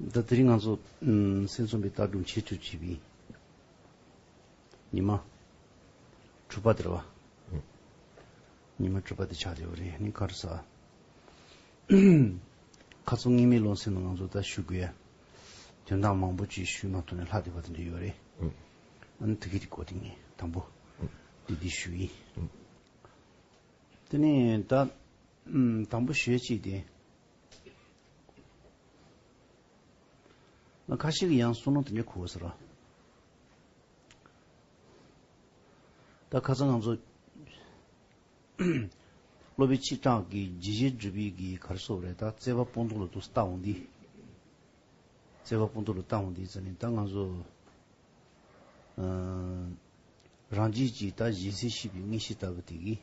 ད་དེ་རིང་ང་ཚོ་སེམས་ཚོམ་པའི་ལྟ་སྒྲུང་བྱེད་ཚུལ་བྱས་པའི་ཉི་མ་དྲུག་པ་དེར་བ། ཉི་མ་དྲུག་པ་དེ་ཆགས་ཡོད་པ་རེད་ནི་ཁར་ས། ཁ་ཚོན་ངེས་མེད་སློང་སེམས་ནང་ང་ཚོ་ད་ཞུ་དགོས་ཡ། དོན་དག་མང་པོ་ཅི་ཞུས་མ་ཐུབ་ནས་ལྷག་བསྡད་པ་དེ་འདྲ་ཡོད་རེད། ཨང་ཐུགས་ཀྱི་དེ་གོ་དེ་ངས་དང་པོ་དེ་འདི་ཞུ་ཡིན། དེ་ནས་ད་དང་པོ་ཞོལ་གཅིག་དེ། ང་ཁ་ཤིག་ཡང་སུན་སྣང་དེ་ཉིད་ཁུགས་ཟེར་རོ། ད་ཁ་ཚ་ང་ཚོ། སློབ་བུ་ཆིག་སྐྲག་གི་ཇི་བཞིན་སྒྲིབ་ཡིག་གི་གར་སོབ་རེད་ད་བརྩེ་བ་སྤུན་ཐུང་ལ་ཏུ་ལྟ་འོང་འདི། བརྩེ་བ་སྤུན་ཐུང་ལ་ལྟ་འོང་འདི་ཟེར་ནས་ད་ང་ཚོ། རང་རྒྱལ་གྱི་ད་གཞན་སེལ་ཤེས་པའི་དངོས་གཞི་ལྟ་བུ་དེ་གིས།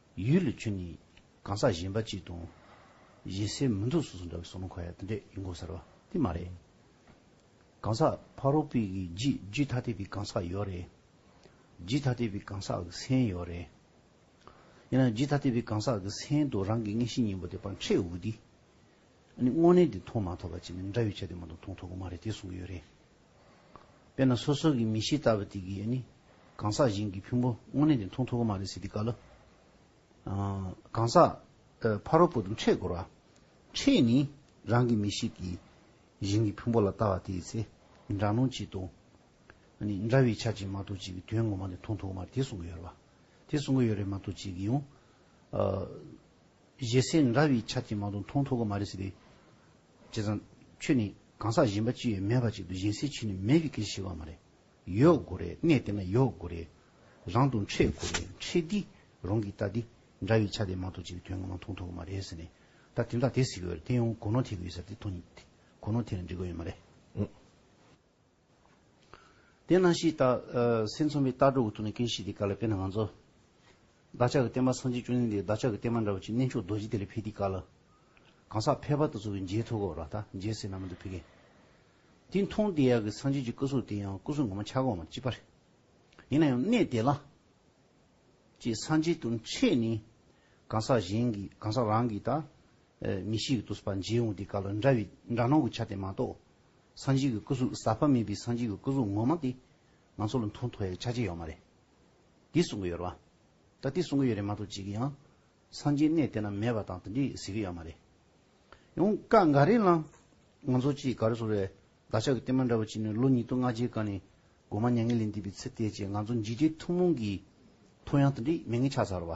ཡུལ་ལུས་ཁྱོད་ནི་གང་ཟག་གཞན་པ་ཅིག་དང། གཞན་སེལ་མི་འདུག་སོ་སོ་འདྲ་བའི་སོགས་ནང་འཁོད་དེ་འདྲས་ཡིན་དགོས་ཟེར་བ་དེ་མ་རེད། གང་ཟག་ཕ་རོལ་པོའི་གི་རྗེས་རྒྱུད་ཐ་དད་པའི་གང་ཟག་ཡོད་རེད། རྗེས་ཐ་དད་པའི་གང་ཟག་གི་སེམས་ཡོད་རེད། ཡིན་ནའང་རྗེས་ཐ་དད་པའི་གང་ཟག་གི་སེམས་དང་རང་གི་མངལ་ཤེས་གཉིས་པོ་དེ་བར་འཕྲད་འོས་དུས། ཨ་ནི་དངོས་གནས་དེ་མཐོང་མ་ཐུབ་པ་ཅིག་ནི་འདྲ་བའི་ཆ་དེ་མ་གཏོགས་མཐོང་ཐུབ་གི་མ་རེད་དེ་གསུངས་ཀྱི་ཡོད་རེད། དཔེར་ན་སོ་སོ་གི་མི་གཤིས་ལྟ་བུ་དེ་གི་ནི། གང་ཟག་གཞན་གྱི་ཕུང་པོ་དངོས་གནས་དེ་མཐོང་ཐུབ་ཀྱི་མ་རེད་ཟེར་དུས་བཀའ་ལོས། གང་ཟག། ཕ་རོལ་པོ་དང་འཕྲད་དགོས་ར། འཕྲད་ནི། རང་གི་མི་གཤིས་ཀྱི། གཞན་གྱི་ཕུང་པོ་ལ་ལྟ་བ་དེ་ཡི་ཚེ། འདྲ་མཉམ་གཅིག་ཏུ། ནི། འདྲ་བའི་ཆ་གཅིག་མ་གཏོགས་གཅིག་གི་དོན་ངོ་མ་དེ་མཐོང་ཐུབ་ཀྱི་མ་རེད་དེ་གསུང་གི་ཡོད་རེད་པ། དེ་གསུང་གི་ཡོད་རེད་མ་གཏོགས་གཅིག་གི་ཡང། གཞན་སེམས་འདྲ་བའི་ཆ་གཅིག་མ་གཏོགས་མཐོང་ཐུབ་ཀྱི་མ་རེད་ཟེར་དུས། བྱས་ཙང། ཁྱོད་ནི་གང་ཟག་གཞན་པ་ཅི་ཡོད་མེད་པ་ཅིག་ཏུ་བཞེངས་སའི་ཕྱིར་ནི་མེད་ཀྱི་སྐད་ཅིག་ཤི་བ་མ་རེད། ཡོད་དགོས་རེད་གནས་དེ་ན་ཡོད་དགོས་རེད། རང་དུ་འཕྲད་དགོས་རེད་འཕྲད་འདི་རང་གིས་ལྟ་འདི་འདྲ་བའི་ཆ་དེ་མ་གཏོགས་ཅི་ཡང་དོན་ངོ་མ་མཐོང་ཐུབ་ཀྱི་མ་རེད་ཟེར་ནས། ད་དེ་འདྲ་དེ་ཟེར་གི་ཡོད་རེད་དེ་ཡང་གོ་ནོར་ཐེག་གི་ཡོད་ཟེར་ཏེ་མཐོང་གི་གོ་ནོར་ཐེག་ནས་འགྲིག་གི་ཡོད་མ་རེད། དེ་སྣང་ཞིག་ལྟ། སེམས་མཚོན་པའི་ལྟ་གྲུབ་ཀྱི་ཐོག་ནས་ཀུན་ཤེས་དེ་ག་ལ་དཔེར་ན་ང་ཚོ། བདག་ཅག་གི་བསྟན་པ་སངས་རྒྱས་བཅུ་གཉིས་འདི་བདག་ཅག་གི་བསྟན་པ་འདྲ་བ་ཅིག་གནས་མཆོག་རྡོ་རྗེ་དེ་ལས་འཕེལ་དེ་ག་ལ། གང་ཟག་ཕལ་པ་དག་ཚུར་མཇལ་ཐུག་གོ་ར་ད་མཇལ་སྲིད་ན་མི་འདུག་ཕི་གེ། དེ་མཐོང་དེ་ཡག་གི་སངས་རྒྱས་ཀྱི་སྐུ་གཟུགས་དེ་ཡང་སྐུ་གཟུགས་ངོ་མ་ཆགས་གོ་མ་ཅི་པར། ཡིན་ན་ཡང་གནས་དེ་ལ། ཅེས་སངས་རྒྱས་དུ་འཆད་ནས། གང་ཟག་གཞན་གྱི་གང་ཟག་རང་གི་ད། མི་ཤེས་ཀྱི་ཏུ་སྤ་མཇལ་འོང་དེ་ག་ལ་འདྲ་བའི་འདྲ་སྣང་གི་ཆ་དེ་མ་གཏོགས། སངས་རྒྱས་ཀྱི་སྐུ་གཟུགས་ཟག་པ་མེད་པའི་སངས་རྒྱས་ཀྱི་སྐུ་གཟུགས་ངོ་མ་དེ། ང་ཚོ་ལ་མཐོང་ཐོས་ཡོད་ཆ་ཅི་ཡོད་མ་རེད། འདི་གསུང་གི་ཡོད་རེད་བ། ད་དེ་གསུང་གི་ཡོད་རེད་མ་གཏོགས་ཅིག་ཡང། སངས་རྒྱས་གནས་དེ་ན་མེད་པ་དང་དེ་འདྲས་ཟེར་གི་ཡོད་མ་རེད། ཡང་བཀའ་འགའ་རེ་ལའང། ང་ཚོ་སྤྱིའི་འགའ་རེ་སོགས་རེད། བདག་ཅག་གི་བསྟན་པ་འདྲ་བོ་ཅིག་ནི་ལོ་ཉིས་སྟོང་ལྔ་བརྒྱའི་སྒང་ནས། སྒོ་མ་མྱ་ངན་ལས་འདས་པའི་ཚེ་དེའི་རྗེས་ང་ཚོ་འཇིགས་བྲལ་ཐུན་མོང་གི། ཐོ་ཡང་དེ་འདྲས་མེད་ངེས་ཆགས་ཚར་བ།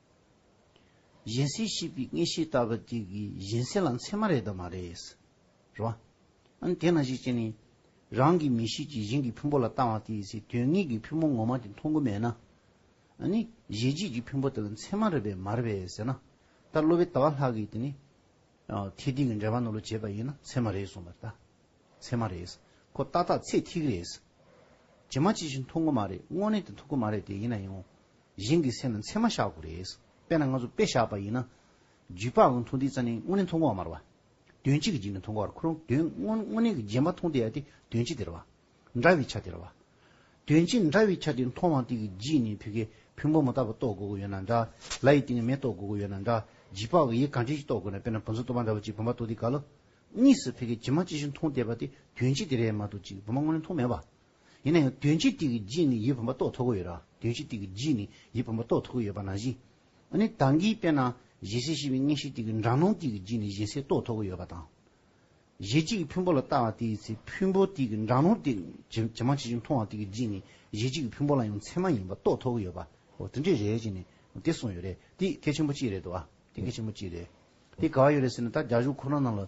གཞན་སེལ་ཤེས་པའི་ངེས་ཤེས་ལྟ་བུ་དེ་གིས་གཞན་སེལ་ལ་མཚན་མ་རེད་དམ་མ་རེད། རེད་བ། ཨང་དེས་ན་ཞིག་བྱས་ནས། རང་གི་མི་གཤིས་ཀྱིས་གཞན་གྱི་ཕུང་པོ་ལ་ལྟ་བ་དེས་ཚེ་དོན་དངོས་ཀྱི་ཕུང་པོ་ངོ་མ་དེ་མཐོང་གི་མེད་ན། ཨ་ནི། གཞན་གཅེས་ཀྱི་ཕུང་པོ་དེ་ལ་མཚན་མ་རེད་པས་མ་རེད་པས་ཟེར་ན། ད་གློ་བའི་ལྟ་བ་ལྷག་གིས་དེ་ནི། ཐེག་ཐིག་གི་འགྲེལ་པ་ནོར་ལུགས་བྱས་པ་ཡིན་ན་མཚན་མ་རེད་གསུངས་པར་ལྟ། མཚན་མ་རེད། ཁོ་ཏག་ཏག་ཚེག་ཐིག་རེད། ཇི་མ་ཇི་བཞིན་མཐོང་གི་མ་རེད་དངོས་གནས་དེ་མཐོང་གི་མ་རེད་དེ་ཡིན་ན་ཡང། གཞན་གྱི་སེམས་ལ་མཚན་མ་བཞག་དགོས་རེད། དཔེར་ན་ང་ཚོ་དཔེ་བཞག་པ་ཡིན་ན། རྒྱུད་པ་དབང་མཐོང་འདི་རྩ་ནི་དངོས་གནས་མཐོང་གོ་མ་རུང་བ། དོན་གཅིག་གི་རྗེས་ནས་མཐོང་གོ་བར་འཁོར་རུང་དོན་དངོས་དངོས་གནས་ཀྱི་རྗེས་མ་མཐོང་དེ་ཡང་དེ་དོན་གཅིག་དེར་བ། འདྲ་བའི་ཆ་དེར་བ། དོན་གཅིག་འདྲ་བའི་ཆ་དེ་མཐོང་བ་དེ་གི་རྗེས་ནས་བུ་གའི་བུ་འབུམ་མོ་ལྟ་བུ་རྟོགས་དགོས་དགོས་ཡོད་ན་འདྲ། ལ་ཡི་སྟེང་གི་མེ་རྟོགས་དགོས་དགོས་ཡོད་ན་འདྲ། རྗེས་དཔག་གི་ཡིད་གང་ཅི་ཞིག་རྟོགས་དགོས་ན་དཔེར་ན་བུམ་ཚོ་རྟོགས་པ་འདྲ་བུ་ཅིག་བུམ་པ་རྟོགས་དེ་ག་ལ། གཉིས་སུ་བུ་གའི་རྗེས་མ་ཅི་ཞིག་མཐོང་བསྡད་པ་དེ་དོན་གཅིག་དེ་རེད་མ་གཏོགས་ཅིག་བུམ་པ་དངོས་གནས་མཐོང་མེད་པ། ཡིན་ན་ཡང་དོན་སྤྱི་ཏིག་གི་རྗེས་ནི་ཡིད་བུམ་པ་རྟོགས་ཐུབ་ཀྱི་ཡོད་ར། དོན་སྤྱི་ཏིག་གི་རྗེས་ནི་ཡིད་བུམ་པ་རྟོགས་ཐུབ་ཀྱི་ཡོད་པ་ན་བཞིན། ཨ་ནི་དང་གིས་དཔེར་ན་གཞལ་སའི་ཤེས་པའི་གཉེན་བཤེས་ཏིག་གི་འགྲངས་སྣང་ཏིག་གི་རྗེས་ནི་གཞན་སེལ་རྟོགས་ཐུབ་ཀྱི་ཡོད་པ་དང། གཞལ་བྱེད་ཀྱི་ཕུང་པོ་ལ་ལྟ་བ་དེའི་ཚེ་ཕུང་པོ་ཏིག་གི་འགྲངས་སྣང་ཏིག་གི་ཇེ་མང་ཇེ་ཆུང་མཐོང་བ་ཏིག་གི་རྗེས་ནི་གཞལ་བྱེད་ཀྱི་ཕུང་པོ་ལ་ཡང་ཚད་མ་ཡིན་པ་རྟོགས་ཐུབ་ཀྱི་ཡོད་པ། ཨོ་དེ་འདྲས་རེད་ཅེས་ནི་དེ་གསུངས་ཡོད་རེད། དེ་གལ་ཆེན་པོ་གཅིག་རེད་འདུག་ཨ། དེ་གལ་ཆེན་པོ་གཅིག་རེད། དེ་ག་བ་ཡོད་རེད་ཟེར་ན་ད་རྒྱ་གཞུང་ཁོ་རང་རྣམས་ལ་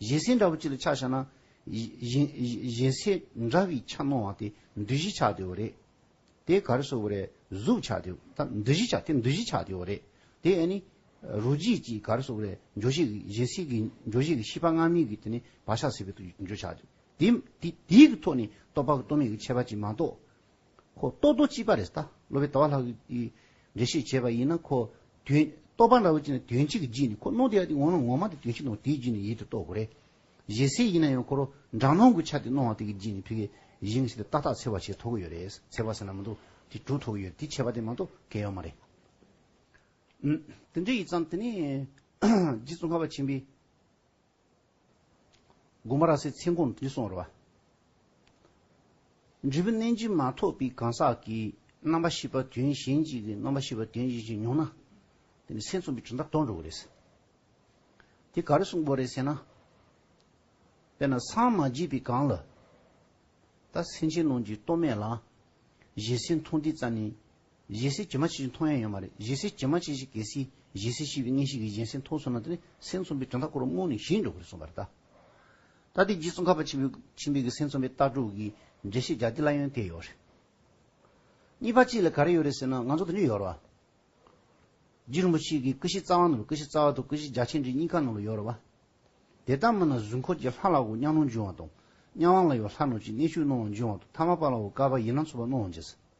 བཞེད་ཟས་འདྲ་བོ་གཅིག་ལ་ཆ་བཞག་ན། བཞེད་ཟས་འདྲ་བའི་ཆ་སྣང་བ་དེ་འདུ་བཞི་ཆགས་དེའོ་རེད། དེ་ག་རེ་བཟོ་བོ་རེད་གཟུགས་ཆགས་དེ་ད་འདུ་བཞི་ཆགས་དེ་འདུ་བཞི་ཆགས་དེའོ་རེད། དེ་ཨེ་ནི། རོ་བརྗིད་ཀྱིས་ག་རེ་བཟོ་བོ་རེད་འཇོ་བཞེད་ཀྱི་བཞེད་ཟས་ཀྱི་འཇོ་བཞེད་ཀྱི་ཤེས་པ་སྔ་མའི་གི་དེ་ནི་བག་ཆགས་ཟད་པའི་འཇོ་ཆགས་དེ། དེའི་གི་ཐོག་ནས་རྟོག་པ་གི་རྟོག་མེད་ཀྱི་ཁྱད་པར་གྱིས་མ་གཏོགས། ཁོ་རྟོགས་རྡོ་གཅིག་པ་རེད་ད་ལོ་བའི་ཟླ་བ་ལྷག་གི་འགྲེལ་བཤད་བྱས་པ་ཡིན་ན་ཁོ་དོན་རྟོགས་པ་འདྲ་བོ་ཅི་ནས་དོན་གཅིག་གི་རྗེས་ནས་ཁོ་ནོར་དེ་ཡག་དེ་འོང་ན་ངོ་མ་དེ་དོན་གཅིག་ནོར་དེའི་རྗེས་ནས་ཡིད་དུ་རྟོགས་དགོས་རེད། གཞས་སེ་ཡིན་ན་ཡང་ཁོ་རོ་འདྲ་ནོར་གུ་ཆ་དེ་ནོར་བ་དེ་གི་རྗེས་ནས་ཕི་གེ་གཞས་ངས་ཤི་དེ་ཏག་ཏག་འཚེ་བ་བྱས་ཐོག་གི་ཡོད་རེད་འཚེ་བ་ཟེར་ན་མི་འདུག་དེ་གྲུ་ཐོག་གི་ཡོད་དེ་བྱས་པ་དེ་མ་གཏོགས་གལ་ཡོད་མ་རེད། འདི་འདྲ་ཡིན་ཙང་དེ་ནས་རྗེ་བཙུན་ཁ་བ་ཆེན་པོའི། གོ་མ་ར་སའི་མཚན་གོང་དུ་སོང་རོ། འབྲས་བུ་གནས་འབྱིན་མ་ཐོབ་པའི་གང་ཟག་གིས་རྣམ་པ་ཤེས་པ་དོན་གཞན་གཅིག་གིས་རྣམ་པ་ཤེས་པ་དོན་གཞན་གཅིག་མྱོང་ན། དེ་ནི་སེམས་གསུམ་པའི་གྲུབ་མཐའ་སྟོང་འགྲོ་བ་རེད། དེ་ག་རེ་གསུངས་པོ་རེད་ཟེར་ན། དཔེར་ན་སངས་མ་རྒྱས་པའི་གང་ལ། ད་སེམས་ཅན་རྣམས་ཀྱི་སྟོབས་མེད་ལ། གཞན་སེམས་མཐོང་དུས་ཙམ་ནས་གཞས་སེ་ཇི་མ་ཇི་བཞིན་མཐོང་ཡ་ཡོད་མ་རེད་གཞས་སེ་ཇི་མ་ཇི་བཞིན་གལ་སྲིད་གཞས་སེ་ཤི་བའི་གནས་ཤིག་གི་གཞན་སེམས་མཐོང་སོང་ན་དེ་ནི་སེམས་ཚོམ་པའི་གྲུབ་མཐའ་སྐོར་བ་རྨོངས་ནས་ཞི་འགྲོ་གི་རེད་གསུངས་པ་རེད་ད། ད་ལྟའི་རྗེ་བཙུན་ཁ་བ་ཆེན་པོའི་ཆེན་པོའི་གི་སེམས་ཚོམ་པའི་ལྟ་གྲུབ་ཀྱི་འགྲེལ་བཤད་རྒྱ་དེ་ལ་ཡོན་ཏན་ཡོད་རེད། གཉིས་པ་གཅིག་ལ་ག་རེ་ཡོད་རེད་ཟེར་ན་ང་ཚོ་དེ་འདྲ་ཡོད་རེད་བ། རྗེ་རིན་པོ་ཆེ་གི་ཀི་ཤི་རྩ་བ་ནོར་བུ་ཀི་ཤི་རྩ་བ་དང་ཀི་ཤི་རྒྱ་ཆེན་འདྲེ་གཉིས་ཀ་ནང་ལ་ཡོད་རེད་བ། དེ་ལྟར་མིན་ན་གཟུགས་འཁོར་གྱི་ལྷ་ལ་འོ་སྙམ་རླུང་འབྱུང་བ་དང། གཉའ་དབང་ལ་ཡོད་ལྷ་ནོར་གྱི་གནས་ཤུགས་སྣང་བ་འབྱུང་བ་དང་ཐ་མ་པ་ལ་འོ་དཀར་བ་ཡིན་ན་མཚོ་པ་སྣང་བ་འབྱུང།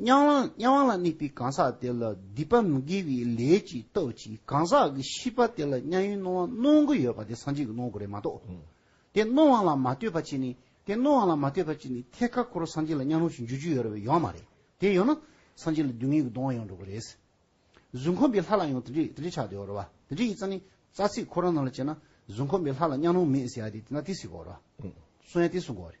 དམྱལ་བ་དམྱལ་བ་ལ་དམིགས་པའི་གང་ཟག་དེ་ལ་སྡིག་པ་མི་དགེ་བའི་ལས་ཀྱི་སྟོབས་ཀྱིས་གང་ཟག་གི་ཤི་བ་དེ་ལ་དམྱལ་ཡུན་སྣང་བ་སྣང་གི་ཡོད་པ་དེ་སངས་རྒྱས་ཀྱི་སྣང་གོ་རེད་མ་གཏོགས། དེ་སྣང་བ་ལ་མ་ལྟོས་པ་ཅིག་ནི་དེ་སྣང་བ་ལ་མ་ལྟོས་པ་ཅིག་ནི་ཐད་ཀ་འཁོར་སངས་རྒྱས་ལ་དམྱལ་སྣང་ཞིག་འཇུག་རྒྱུ་ཡོད་རེད་བས་ཡོད་མ་རེད་དེ་ཡོད་ན་སངས་རྒྱས་ལ་སྡུག་བསྔལ་གྱི་གདོང་བ་ཡོང་འགྲོ་གི་རེད། གཟུགས་འཁོར་འབའི་ལྷ་ལ་ཡང་དེ་འདྲའི་དེ་འདྲའི་ཆགས་དེ་འོ་རེད་བ། དེ་འདྲའི་ཡིག་རྩ་ནི་རྩ་ཚིག་ཁོ་རང་རྣམས་ལ་དཔྱད་ན་གཟུགས་འཁོར་འབའི་ལྷ་ལ་དམྱལ་སྣང་མེད་ཟེར་ཡ་དེ་དེ་འདྲ་དེ་སྲིད་གོ་རེད་བ། གསུང་ཡ་དེ་གསུང་གོ་རེད།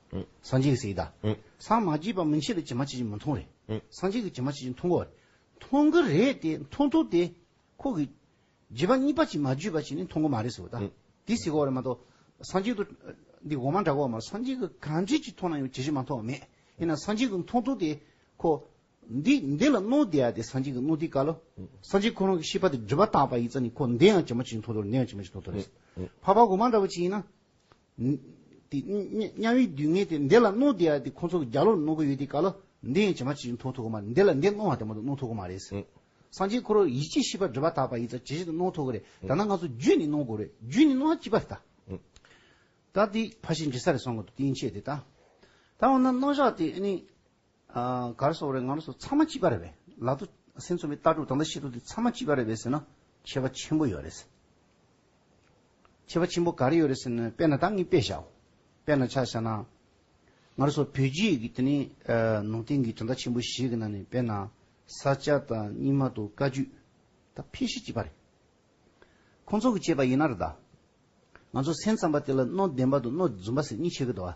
སངས་རྒྱས་ཀྱི་སྲས་ཀྱི་བདག། སངས་མ་རྒྱས་པ་མི་འཆད་པའི་བྱེ་མ་ཆེ་ཆེ་མི་མཐོང་རེ། སངས་རྒྱས་ཀྱི་བྱེ་མ་ཆེ་ཆེ་མཐོང་གོ། མཐོང་གི་རེད་དེ་མཐོང་ཐུབ་དེ། ཁོ་གི། རྗེས་པ་གཉིས་པ་ཅིག་མ་བརྗོད་པ་ཞིག་ནི་མཐོང་གི་མ་རེད་ཟེར་བ་ད། དེ་ཟེར་གོ་རེ་མ་གཏོགས། སངས་རྒྱས་དུ། འདི་གོང་མ་འདྲ་གོ་མ་སངས་རྒྱས་ཀྱི་གང་ཅི་ཅིག་མཐོང་ན་ཡང་ཇི་བཞིན་མ་མཐོང་བ་མེད། དེས་ན་སངས་རྒྱས་ཀྱི་མཐོང་ཐུབ་དེ། ཁོ། འདི་འདི་ལ་རྣོ་བདེ་ཡ་དེ་སངས་རྒྱས་ཀྱི་རྣོ་བདེའི་བཀའ་ལོ། སངས་རྒྱས་ཁོ་རང་གི་ཤེས་པ་དེ་སྒྲིབ་པ་དག་པ་ཡི་རྩ་ནས་ཁོ་འདི་ཡང་བྱེ་མ་ཆེ་ཆེ་མཐོང་ཐུབ་རེ་འདི་ཡང་བྱེ་མ་ཆེ་མཐོང་ཐུབ་རེ། འཕགས་པ་གོང་མ་འདྲ་བ་ཅིག་ཡིན་ན། དམྱལ་བའི་སྡུག་བསྔལ་དེ་འདི་ལ་རྣོ་བདེ་ཡ་དེ་ཁོ་ཚོ་རྒྱ་ལོར་རྣོ་གི་ཡོད་དེ་ག་ལ་འདི་ཡང་ཇེ་མང་ཇེ་ཆུང་མཐོ་ཐུག་གི་མ་རེད་འདི་ལ་འདི་རྣོ་བ་དེ་མ་གཏོགས་རྣོ་ཐུག་གི་མ་རེད། སངས་རྒྱས་ཁོ་རོ་ཡིད་ཆེས་ཤེས་པ་འགྲུབ་པ་དག་པ་ཡིན་ཙང་ཇེ་ཇེ་དང་རྣོ་ཐུག་གི་རེད་ད་ནང་ང་ཚོ་རྒྱུད་ནས་རྣོ་དགོས་རེད་རྒྱུད་ནས་རྣོ་བ་སྐྱིད་པ་རེད་ད། ད་དེ་ཕ་ཤེས་འདྲི་ས་རེད་སོང་གི་འདུག་སྟེན་ཆེད་དེ་ད། ད་འོ་ན་རྣོ་བཞག་དེ་ཨ་ནི། གར་སོགས་རེ་ངར་སོགས་ཚང་མ་གཅིག་པ་རེད་པས་ལག་ཏུ་སེམས་ཚོམ་བའི་ལྟ་གྲུབ་དང་དང་ཤེས་གྲུབ་དེ་ཚང་མ་གཅིག་པ་རེད་པས་ཟེར་ན་ཁྱད་པ་ཆེན་པོ་ཡོད་རེད། ཁྱད་པ་ཆེན་པོ་ག་རེ་ཡོད་རེད་ཟེར་ན་དཔེར་ན་ད་ངས་དཔེ་བཞག་དཔེར་ན་ཆ་བཞག་ན། ངར་སོགས་བོད་རྒྱུད་ཀྱི་དེ་ནི་ནང་བསྟན་གྱི་དོན་དག་ཆེན་པོ་ཞིག་གི་ནང་ནས་དཔེར་ན་ས་སྐྱ་དང་རྙིང་མ་དང་བཀའ་བརྒྱུད་ད་ཕལ་ཤེད་གཅིག་པ་རེད། ཁོང་ཚོ་གིས་བྱས་པ་ཡིན་ན་རེད་ད། ང་ཚོ་སེམས་ཙམ་པ་དེ་ལ་སྣོད་ལྡན་པ་དང་སྣོད་རྫུན་པ་ཟེར་གཉིས་ཆད་ཀྱི་འདུག་ཨ།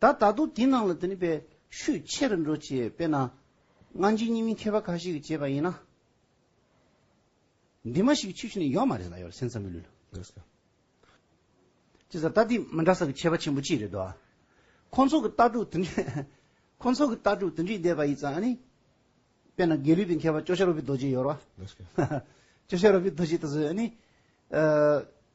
ད་ད་དུང་དེའི་ནང་ལ་དེ་ནི་པའི་ཤུགས་ཆེ་རུ་འགྲོ་ཅེས་དཔེར་ན། སྔ་འགྱིང་གཉིས་མིན་མཁས་པ་ཁ་ཤས་ཀྱིས་བྱས་པ་ཡིན་ན། འདི་མ་ཞིག་གི་ཆུ་ཤིང་ནི་ཡོད་མ་རེད་ལ་ཡོད་ལ་སེམས་ཙམ་མི་ལུས་ལ། ཅེས་ཟེར་ད་དེ་མི་འདྲ་ས་ཀྱི་ཁྱད་པ་ཆེན་པོ་ཅི་རེད་དོ། ཁོང་ཚོ་གི་ལྟ་གྲུབ་དེ་འདྲས་ཁོང་ཚོ་གི་ལྟ་གྲུབ་དེ་འདྲས་བསྡད་པ་ཡིན་ཙང་ཨ་ནི། དཔེར་ན་དགེ་ལུགས་པའི་མཁས་པ་ཅོ་ཤ་རོ་པི་རྡོ་རྗེ་ཡོད་ར། ཅོ་ཤ་རོ་པི་རྡོ་རྗེ་ད་གཟོད་ཨ་ནི།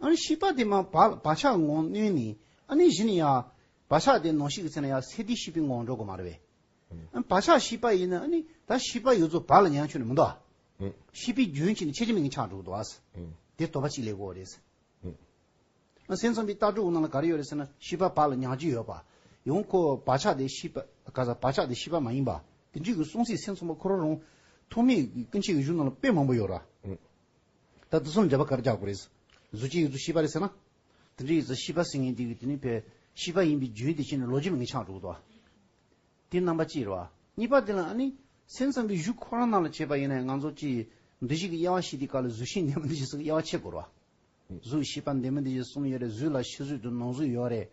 ཨཱ་ནི་ཤི་པ་དེ་མ་བ་ཆགས་ངོ་གནོན་ནི་ཨཱ་ནི་བཞི་ནི་ཡ། བ་ཆགས་དེ་ནོ་ཤི་གི་ཚེ་ན་ཡ་སེ་དེ་ཤི་པའི་ངོ་འགྲོ་གོ་མ་ར་བས། ཨཱ་བ་ཆགས་ཤི་པ་ཡིན་ན་ཨཱ་ནི་ད་ཤི་པ་ཡོད་ཚོ་བ་ལ་ཉང་ཆུ་ནི་མི་འདོ། ཤི་པའི་རྒྱུན་གྱིས་ནི་ཆེ་ཆེ་མིང་གི་ཆགས་འགྲོ་གོ་འདོ་ཨཱས། དེ་དོ་བ་གཅིག་ལེགས་གོ་རེ་ས། ཨཱ་སེམས་ཚོམ་པའི་ལྟ་གྲུབ་གོ་ན་ལ་ག་རེ་ཡོད་རེ་ས་ན་ཤི་པ་བ་ལ་ཉང་ཅི་ཡོད་པ། ཡང་ཁོ་བ་ཆགས་དེ་ཤི་པ་ག་ས་བ་ཆགས་དེ་ཤི་པ་མ་ཡིན་པ། དེ་འདྲིའི་གི་གསུང་ཚིག་སེམས་ཚོམ་པ་ཁོ་ར་རུང། ཐོག་མེད་གི་སྐུ་མཆེད་ཀྱི་གཞུང་ན་ལ་དཔེ་མང་པོ་ཡོད་ར། ད་བསྡུ་གསུམ་བརྒྱབ་པ་གར་རྒྱག་དགོས་རེད། གཟུ་གཅིག་ཡིག་གཟུགས་ཤེས་པ་རེད་ཟེར་ན། དེ་འདྲའི་ཡིག་གཟུགས་ཤེས་པ་ཟེར་མཁན་དེ་གིས་དེ་ནི་བོད་ཤེས་པ་ཡིན་པའི་རྒྱུན་དེ་ཤེས་ནས་ལོ་རྒྱུས་མི་ངན་ཆགས་འགྲོ་གི་འདུག་བ། དེ་རྣམ་པ་གཅིག་རེད་བ། གཉིས་པ་དེ་ལ་ཨ་ནི་སེམས་ཙམ་པའི་གཞུག་ཁོ་རང་རྣམས་ལ་བྱས་པ་ཡིན་ན་ང་ཚོ་སྤྱི་འདི་ཞིག་གི་དབྱེ་བ་ཤེས་དེ་ག་ལ་གཟུགས་ཤེས་འདས་མོ་འདི་ཞིག་སོགས་ཀྱི་དབྱེ་བ་ཕྱེ་དགོས་རེད་བ། གཟུགས་ཤེས་པ་འདས་མོ་འདི་ཞེས་གསུམ་ཡོད་རེད་གཟུགས་ལ་ཤེས་གཟུགས་དུ་ནོར་གཟུགས་ཡོད་རེད།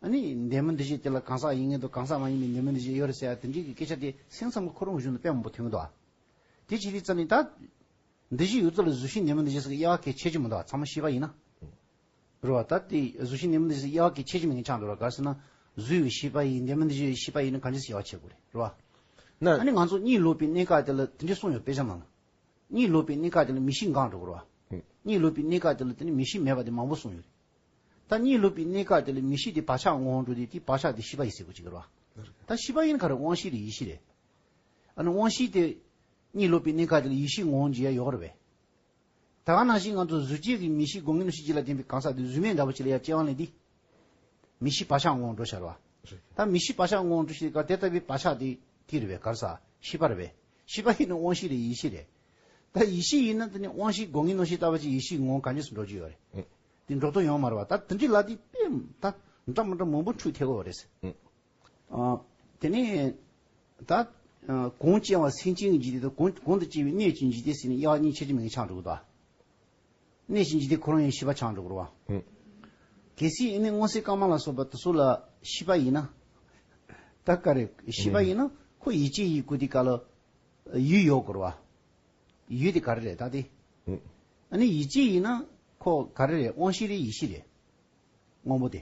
ཨ་ནི་འདས་མོ་འདི་ཞེས་དེ་ལ་གང་ཟག་ཡིན་མཁན་དང་གང་ཟག་མ་ཡིན་པའི་འདས་མོ་འདི་ཞེས་ཡོད་རེད་ཟེར་ཡ་དེ་འདྲའི་གི་སྐད་ཆ་དེ་སེམས་ཙམ་གྱི་ཁོ་རང་གཞུང་དུ་དཔེ་མང་པོ་ཐོན་གི་འདུག་བ། དེ་ཅི་རིགས་ཙམ་ཡིན་ད། འདི་བཞིན་ཡུལ་ཚོ་ལས་གཟུགས་ཤིང་ནེ་མོ་འདི་རྗེས་སུ་དབྱེ་བ་གལ་ཆེ་ཆེན་མོ་འདུག་ཚང་མ་ཤེས་པ་ཡིན་ན། རེད་བ། ད་དེ་གཟུགས་ཤིང་ནེ་མོ་འདི་རྗེས་སུ་དབྱེ་བ་གལ་ཆེ་ཆེན་མོ་ངེད་ཅག་འདུག་ར་གར་སེ་ན། གཟུགས་ཡོད་ཤེས་པ་ཡིས་ནེ་མོ་འདི་བཞིན་ཡོད་ཤེས་པ་ཡིན་ན་གང་རྗེས་སུ་དབྱེ་བ་བྱེད་དགོས་རེད་བ། ན། ཨ་ནི་ང་ཚོ་གཉིད་ལོག་པའི་གནས་སྐབས་དེ་ལ་དེ་འདྲས་གསུངས་ཡོད་པས་ཆ་མང། གཉིད་ལོག་པའི་གནས་སྐབས་དེ་ལ་མི་གཤིས་འགག་འགྲོ་གི་རེད་བ། གཉིད་ལོག་པའི་གནས་སྐབས་དེ་ལ་དེ་ནི་མི་གཤིས་མེད་པ་དེ་མང་པོ་གསུངས་ཡོད་རེད། ད་གཉིད་ལོག་པའི་གནས་སྐབས་དེ་ལ་མི་གཤིས་དེ་བག་ཆགས་ངོ་བོར་འགྲོ་དུས་དེའི་བག་ཆགས་དེ་ཤེས་པ་ཡིས་སེལ་དགོས་ཅི་དགོས་རེད་བ། ད་ཤེས་པ་ཡིན་ནི་ག་རེ་དབང་ཤེས་རེད་ཡིད་ཤེས་རེད། ཨ་ནུ་དབང་བཞི་སྟེ། གཉིད་ལོག་པའི་གནས་ཁ་དེ་ལ་ཡེ་ཤེས་ངོ་བོ་འཇིག་ཡ་ཡོར་བས། ད་གང་ན་ཞིག་ང་ཚོ་གཟུགས་ཅན་གྱི་མི་གཤིས་སྒོ་ངའི་གནོད་བྱེད་སྤྱི་ལ་བརྟེན་པའི་གང་ཟག་དེ་གཟུགས་མེད་འདྲ་བོ་ཅི་ལ་ཡ་སྐྱེ་བ་ལེན་དུས། མི་གཤིས་བག་ཆགས་ངོ་བོ་འགྲོ་ཤར་བ། ད་མི་གཤིས་བག་ཆགས་ངོ་བོ་འགྲོ་ཤེས་ཀ་དེ་ལྟ་བུའི་བག་ཆགས་དེ་དེ་རེད་བས་གར་ཟ། ཤི་བར་བས། ཤི་བ་ཡིན་ན་དབང་བཞི་རེད་ཡེ་ཤེས་རེད། ད་ཡེ་ཤེས་ཡིན་ན་དེ་ནི་དབང་བཞི་སྒོ་ངའི་གནོད་བྱེད་ལྟ་བ་ཅི་ཡེ་ཤེས་ངོ་བོ་ག་གཉིས་སུ་འགྲོ་རྒྱུ་ཡོད་རེད། དེ་འགྲོ་དོན་ཡོང་མ་རུང་བ་ད་དེ་འདྲའི་ལ་དེ་དཔེ། ད་འདྲ་མི་འདྲ་མང་པོ་འཁྲུལ་ཐེ་གོ་བ་རེད། དེ་ནས་ད། གོང་བཅས་བ་སེམས་ཅན་གྱི་འཇིག་རྟེན་དང་གོང་དུ་བཅས་པའི་གནས་ཀྱི་འཇིག་རྟེན་ཟེར་ནས་དབྱེ་བ་གཉིས་ཕྱེ་རྒྱུ་མེད་ཀྱི་ཆ་འགྲོ་གི། གནས་ཀྱི་འཇིག་རྟེན་ཁོ་རང་ཡང་ཤེས་པ་ཆ་འགྲོ་གི། གལ་སྲིད་ཨེ་ནས་སྔོ་སེར་དཀར་དམར་ལ་སོགས་པ་དེ་ཚོ་ལ་ཤེས་པ་ཡིན་ན། ད་ག་རེ་ཤེས་པ་ཡིན་ན་ཁོ་ཡིད་ཆེས་ཡིད་གུ་དེ་ག་ལ། ཡུལ་ཡོད་གི། ཡུལ་དེ་ག་རེ་རེད་ད་དེ། ཨ་ནི་ཡིད་ཆེས་ཡིན་ན་ཁོ་ག་རེ་རེད་དབང་ཤེས་རེད་ཡིད་ཤེས་རེད། དངོས་པོ་དེ།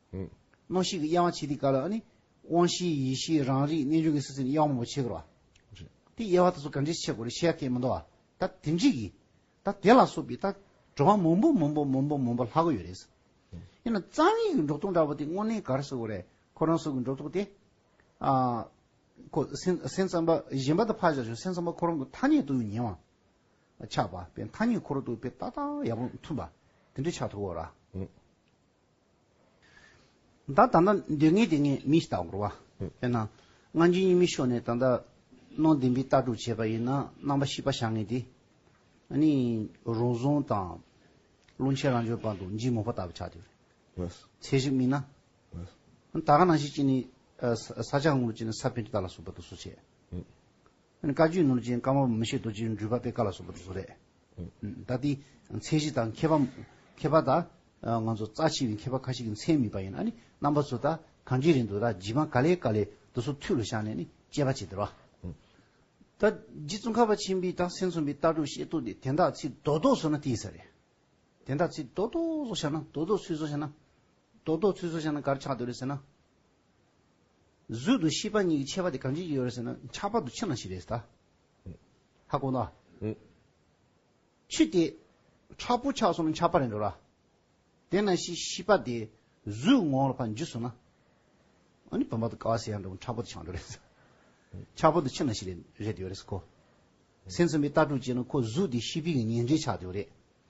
སྣང་ཤེས་ཀྱི་དབྱེ་བ་ཕྱེ་སྟེ་བཀའ་ལ་ཨ་ནི། དབང་བཞིའི་ཡེ་ཤེས་རང་རིག་རྣལ་འབྱོར་གྱི་སེམས་ཅན་དབྱེ་བ་མང་པོ་ཕྱེ་དགོས་རོ། དེ་དབྱེ་བ་དེ་ཚོ་ག་འདྲས་ཕྱེ་དགོས་རེ་ཤེས་ཡ་ཐེ་མི་འདུག་ཨ། ད་དེ་འདྲིས་ཀྱི། ད་དེ་ལ་སོགས་པའི་ད། འགྲོ་བ་མང་པོ་མང་པོ་མང་པོ་མང་པོ་ལྷག་གི་ཡོད་རེད། ཡིན་ན་རྩ་བའི་གི་འགྲོ་ལྡོག་འདྲ་བོ་དེ་དངོས་གནས་གར་སོ་གོ་རེ། ཁོ་རང་སོགས་ཀྱི་འགྲོ་ལྡོག་དེ། ཨ། ཁོ་སེམས་སེམས་ཙམ་པ་གཞན་པ་དང་ཕར་བཞག་ཞོག་སེམས་ཙམ་པ་ཁོ་རང་གི་ཐ་སྙད་དུ་ཉེ་བ། ཆགས་པ་པའི་ཐ་སྙད་ཁོ་རང་དུ་དཔེ་ཏག་ཏག་ཡག་པོ་མཐུན་པ། དེ་འདྲས་ཆགས་ཐུབ་གོ་ར། བདག་ད་ལྟ་འདོད་ངེས་དེ་ངས་མི་བལྟ་བར་བ། དཔེར་ན། སྔ་འགྱིང་གཉིས་མི་ཤོར་ནས་ད་ལྟ། སྣང་བདེན་པའི་ལྟ་གྲུབ་བྱས་པ་ཡིན་ན་རྣམ་པ་བཤིག་པ་བྱ་ངེས་ཏེ། ནི། རང་བཟུང་དང། བླུན་ཆེན་རང་འབྱོར་བར་དུ་འཇིགས་མོ་ཕོ་ལྟ་བུ་ཆགས་ཏེ། ཚད་ཞིག་སྨིན་ན། ད་ག་ནང་བཞིན་གྱིས་ནི། ས་ཆ་དངུལ་ལོ་ཅིག་ནི་ས་བོན་གྱི་རྟ་ལ་སོགས་པ་དུ་སོ་ཆེ། ཨཱ་ནི་བཀའ་བརྒྱུད་ནོར་ཅན་བཀའ་མོར་མི་ཤེས་རྡོ་རྗེའི་འགྲུལ་པ་དཔེ་བཀའ་ལ་སོགས་པ་དེ་ཚོ་རེད། ད་ལྟའི་མཚན་གཞི་དང་མཁས་པ། མཁས་པ་དང། ང་ཚོ་རྩ་ཆེ་བའི་མཁས་པ་ཁ་ཤས་ཀྱི་མཚན་མིན་པ་ཡིན་ཨཱ་ནི་རྣམ་པ་ཚོ་ད་གང་གི་རིང་དུ་ད་བགྱི་མ་ག་ལེ་ག་ལེ་དུ་སོ་ཐུད་ལ་བཞག་ནས་ནི་དཔྱད་པ་བྱས་དེ་རོ། ད་རྗེ་བཙུན་ཁ་བ་ཆེན་པོའི་སྟག་སེང་ཚོམ་བུའི་ལྟ་གྲུབ་ཤེས་རྟོགས་འདི་དན་རྟགས་ཚིག་རྡོག་རྡོག་བཟོ་ན་དེ་ཡིན་ས་རེད། དན་རྟགས་ཚིག་རྡོག་རྡོག་བཟོ་བཞག་ན་རྡོག་རྡོག་ཚུལ་བཟོ་བཞག་ན། རྡོག་རྡོག་ཚུལ་བཟོ་བཞག་ན་གར་ཆགས་འདོད་རེད་ཟེར་ན། གཟུགས་དང་ཤེས་པ་གཉིས་ཀྱི་ཁྱད་པར་དེ་གང་ཅིའི་ཡོད་རེད་ཟེར་ན་ཁྱག་པ་དུ་ཆུ་ནང་ཞིག་རེད་ཟེར། ཧ་གོ་ན། ཆུ་དེ་ཁྲག་པོ་ཆགས་སོང་ན་ཁྱག་པ་རེད་འགྲོ་ར། དེ་ན་ཤི་ཤི་པ་དེ་གཟུགས་ངོ་ལ་ཕར་འཇུས་སོང་ན། ཨ་ནི་བུམ་པ་དུ་ཀ་བ་སེ་ཡང་འགྲོ་ཁྲག་པོ་དུ་ཆགས་འགྲོ་རེད། ཁྱག་པ་དུ་ཆུ་ནང་ཞིག་རེད་ཡོད་རེད་ཟེར་གོ། སེམས་གསུམ་པའི་ལྟ་གྲུབ་བྱས་ན་ཁོ་གཟུགས་དེ་ཤི་བི་གི་ཉེ་འབྲེལ་ཆགས་འགྲོ་རེད།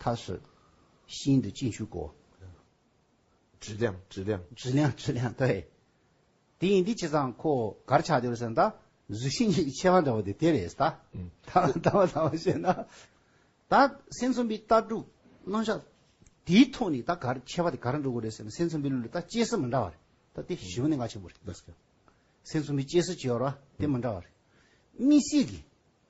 ད་བཟོད་ཤིན་ཏུ་ཅི་འཕྱུག་གོ། དྲི་ལེང་དྲི་ལེང། དྲི་ལེང་དྲི་ལེང་ལྟ་བས། དེ་ཡིན་འདི་ཅི་ཙང་ཁོ་གར་ཆགས་འདིར་སེམས་ད་གཟུགས་ཤིང་གི་མཆེ་བ་འདྲ་བོ་དེ་དེ་རེད་ད། ད་བ་ད་བ་བཤད་ན། ད་སེམས་ཚོམ་བུའི་ལྟ་གྲུབ་སྣང་ཆ་དེའི་ཐོག་ནས་ད་གར་མཆེ་བ་དེ་གར་འགྲོ་དགོས་རེད་ཟེར་ན་སེམས་ཚོམ་བུའི་ལུས་ལ་ད་སྐྱེས་སུ་མི་འདྲ་བ་རེད་ད་དེ་གཞི་ནས་འགའ་ཆེན་པོ་རེད། སེམས་ཚོམ་བུའི་སྐྱེས་སུ་བྱེད་བར་བ་དེ་མི་འདྲ་བ་རེད། མི་སྲིད་གི།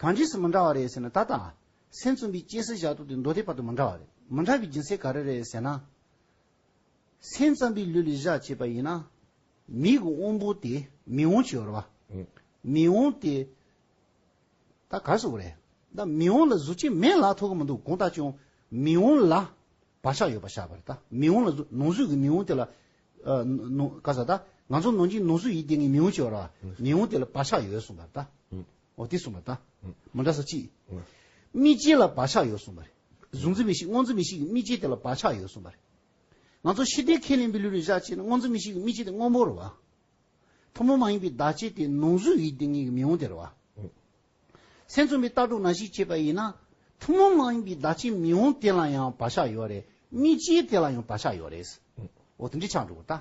གང་རྗེས་སུ་མི་འདྲ་བ་རེད་ཟེར་ན་ད་ལྟ། སེམས་བཙུན་པའི་སྐྱེ་སྲིད་བཞག་ཐོག་དེ་མདོ་སྡེ་བར་དུ་མི་འདྲ་བ་རེད། མི་འདྲ་བའི་སྦྱིན་སྲེག་ག་རེ་རེད་ཟེར་ན། སེམས་ཙམ་པའི་ལུས་ལས་བཞག་བྱས་པ་ཡིན་ན། མིག་གི་དབང་པོ་དེ་མིག་དབང་བྱེད་བར་བ། མིག་དབང་དེ། ད་ག་སོགས་རེད། ད་མིག་དབང་ལ་གཟུགས་ཅན་མེད་ལ་ཐོགས་ཀྱི་མི་འདུག་གང་ལྟ་ཀྱང། མིག་དབང་ལ། བག་ཆགས་ཡོད་པར་བཞག་པ་རེད་ད། མི་འོང་ལ། ནོར་བཟོས་ཀྱི་མི་འོང་དེ་ལ། ནོར། ག་ས་ད། ང་ཚོ་ནོར་འཆིང་ནོར་བཟོས་ཡིད་བརྟན་གྱི་མི་འོང་བྱས་པ་ར། མི་འོང་དེ་ལ་བག་ཆགས་ཡོད་གསུངས་པ་རེད་ད། འོ་དེ་གསུངས་པ་རེད་ད། མ་འདྲ་ས་གཅིག། རྨིས་བྱེད་ལ་བག་ཆགས་ཡོད་གསུངས་པ་རེད། བཟུང་རྩིས་མི་ཤིག་བསྔོག་རྩིས་མི་ཤིག་གི་རྨིས་བྱེད་དེ་ལ་བག་ཆགས་ཡོད་གསུངས་པ་རེད། ང་ཚོ་ཤི་བདེ་ཁས་ལེན་པའི་ལུས་རེ་བཞག་བྱས་ན་བསྔོག་རྩིས་མི་ཤིག་གི་རྨིས་བྱེད་དེ་སྔོན་པོ་རེད་བ། ཐུན་མོང་མ་ཡིན་པའི་བདག་བྱེད་དེ་ནོར་བཟོས་ཡིད་བརྟན་གྱི་མི་འོང་དེ་རེད་བ། སེམས་མཚོན་པའི་ལྟ་གྲུབ་ན་ཞིག་བྱས་པ་ཡིན་ན། ཐུན་མོང་མ་ཡིན་པའི་བརྡ་ཆད་མི་འོང་དེ་ལ་ཡང་བག་ཆགས་ཡོད་རེད། དམིགས་བྱའི་དེ་ལ་ཡང་བག་ཆགས་ཡོད་རེད། འོ་དེ་འདྲའི་ཆགས་འགྲོ་གི་ལྟ།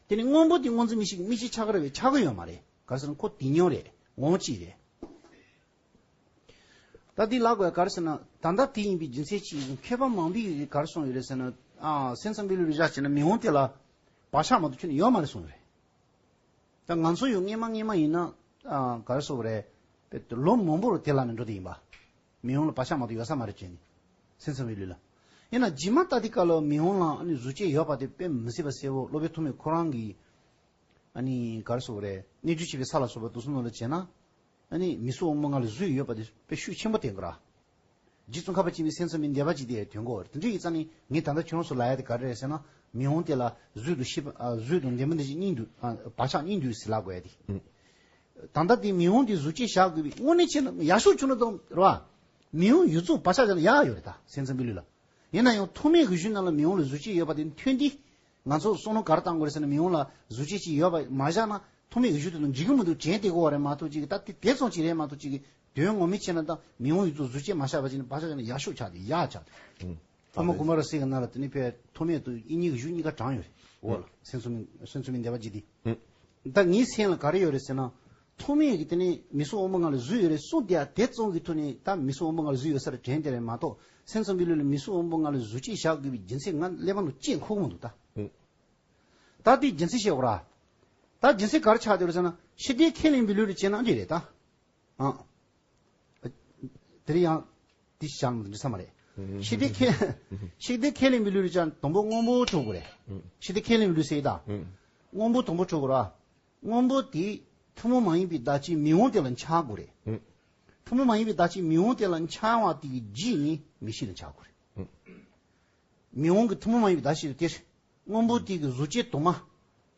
དེ་ནི་སྔོན་པོ་དེ་སྔོ་འཛིན་མི་ཞིག་དམིགས་བྱའི་ཆགས་ར་བའི་ཆགས་ཀྱི་ཡོད་མ་རེད། ག་ཟེར་ན་ཁོ་དེ་ཉོན་རེད། ངོ་བོ་གཅིག་རེད། ད་དེ་ལགས་པས་ག་རེ་ཟེར་ན། ད་ལྟ་དེ་ཡིན་པའི་རྒྱུ་མཚན་ཅི་ཡིན། མཁས་པ་མང་པོས་ག་རེ་གསུངས་ཡོད་རེད་ཟེར་ན། སེམས་མཚོན་པའི་ལུས་པའི་བཞག་བྱས་ན་མི་འོང་དེ་ལ། བག་ཆགས་མ་གཏོགས་ཆོས་ནི་ཡོད་མ་རེད་གསུངས་ཡོད་རེད། ད་ང་ཚོ་ཡོད་ངེས་མ་ངེས་མ་ཡིན་ན་ག་རེ་བཟོ་བ་རེད། ལོ་མང་པོར་དེ་ལ་ནི་འགྲོ་དེ་ཡིན་པ། མི་ཡོང་ལ་བག་ཆགས་མ་དོ་ཡོད་ས་མ་རེད་ཅེས་ནི། སེམས་ཚིམ་བའི་ལུས་ལ། ཡིན་ན་ཇི་མ་ལྟ་དེ་ག་ལ་མི་ཡོང་ལ་ཨ་ནི་གཟུ་བྱས་ཡོད་པ་དེ་དཔེ་མི་སྲིད་པ་གསལ་བོ་སློབ་དཔོན་ཐོགས་མེད་ཁོ་རང་གིས་ཨ་ནི་ག་རེ་བཟོ་བ་རེད་གནས་ཚུལ་བྱས་པའི་ས་ལ་བཟོ་བ་དུག་གསུམ་ནོར་ལ་བྱས་ན་ཨ་ནི་མི་སུ་འོང་མོ་ང་ལ་བཟོས་ཡོད་པ་དེ་དཔེ་ཤུགས་ཆེན་པོ་དེ་འགོ་ར། རྗེ་བཙུན་ཁ་བ་ཅན་མི་སེམས་ས་མི་འདས་པ་ཅིག་དེ་དོན་གོ། དེ་འདྲ་ཡིག་ཚང་ནི་ངས་ད་ལྟ་ཁྱོད་རང་སུ་ལ་ཡ་དེ་ག་རེ་རེད་ཟེར་ན། མི་འོང་དེ་ལ་བཟོས་འདུག་ཤེས་པ་བཟོས་འདུག་འདས་མ་འདས་ཅིག་སྙིང་འདུག་བག་ཆགས་སྙིང་འདུག་ཟེར་ལ་དགོས་ཡ་དེ། ད་ལྟ་དེ་མི་འོང་དེ་གཟུགས་ཅན་བཞག་དགོས་པའི་དངོས་གནས་ཆེ་ན་ཡ་ཤུགས་ཆུང་ན་དང་རེད་བ། མི་འོང་ཡོད་ཚུལ་བག་ཆགས་བཞག་ན་ཡག་ཡོད་རེད་ད་སེམས་ས་མི་ལུས་ལ། ཡིན་ན་ཡང་ཐོག་མའི་གོས་ཤུལ་རྣམས་ལ་མི་འོང་ལ་གཟུགས་ཅན་ཡོད་པ་དེ་མཐུན་ཏེ། ང་ཚོ་སོགས་ནོ་གར་བཏང་དགོས་རེད་ཟེར་ན་མི་ཡོང་ལ་བཟོ་བྱེད་ཅིག་ཡོད་པ་མ་བཞག་ན་ཐོག་མའི་འོས་ཤོག་དེ་ཚོ་འཇིག་གི་མི་འདུག་གྱེན་ལྟས་གོ་བ་རེད་མ་གཏོགས་ཅིག་ད་དེ་དེབ་ཚོང་ཅིག་རེད་མ་གཏོགས་ཅིག་དོན་ངོ་མི་ཆེ་ན་ད་མི་ཡོང་ཡུལ་ཚོ་བཟོ་བྱེད་མ་བཞག་པ་ཅིག་ན་བ་ཆགས་ཅིག་ན་ཡག་ཤོག་ཆགས་ཏེ་ཡག་ཆགས་ཏེ་ཕ་མ་དགུ་མ་རོ་སྲེག་གི་ན་ལ་དེ་ནས་ཕའི་ཐོག་མའི་དུ་ཨི་གཉིས་གི་གཞུག་གཉིས་ཀ་བགྲང་ཡོད་རེད་འོ་ལ་སེམས་ཚོམ་སེམས་ཚོམ་མི་འདེབས་པ་ཅིག་དེ་བདག་ངའི་སེམས་ལ་ག་རེ་ཡོད་རེད་ཟེར་ན། ཐོག་མའི་རིགས་དེ་ནི་མི་གསོད་དབང་པོ་ང་ལ་བཟོས་ཡོད་རེད་གསུངས་དེ་ཡང་དེ་བཙོང་གི་ཐོག་ནས་ད་མི་གསོད་དབང་པོ་ང་ལ་བཟོས་ཡོད་སར་དྲན་དེ་རེད་མ་གཏོགས་སེམས་ཙམ་པའི་ལུས་ལ་མི་གསོད་དབང་པོ་ང་ལ་བཟོས་ཆེད་བཞག་དགོས་པའི་སྦྱིན་སྲེག་ང་ཀླད་པ་ནང་ཅེས་འཁོགས་མ་འདུག་ད། ད་དེ་སྦྱིན་སྲེག་བྱེད་འོག་ར། ད་སྦྱིན་སྲེག་ག་རེ་ཆགས་ཡོད་རེད་ཟེར་ན་ཕྱི་དགྲའི་ཁས་ལེན་པའི་ལུས་ལ་བྱས་ན་འདྲི་རེད་ད། ཨང། དེ་རིང་ཡང་དེ་བཞག་ནས་འབྲི་ས་མ་རེད། ཤིག་དེ་ཁས་ཤིག་དེ་ཁས་ལེན་མི་ལུས་རེད་ཅག་དང་པོ་སྔོན་པོ་འཕྲོ་དགོས་རེད། ཤིག་དེ་ཁས་ལེན་མི་ལུས་སེ་ད། སྔོན་པོ་དང་པོ་འཕྲོ་དགོས་ར། སྔོན་པོ་དེ་ཐུན་མོང་མ་ཡིན་པའི་བརྡ་ཅིག་མི་འོང་དེ་ལ་འཆག་དགོས་རེད། ཐུན་མོང་མ་ཡིན་པའི་བརྡ་ཅིག་མི་འོང་དེ་ལ་འཆག་བ་དེ་གི་རྗེས་ནི་མི་ཤིག་ལ་འཆག་དགོས་རེད། མི་འོང་གི་ཐུན་མོང་མ་ཡིན་པའི་བརྡ་ཞིག་ལ་དེར་སྔོན་པོ་དེ་གི་གཟུགས་བྱད་དུ་མ།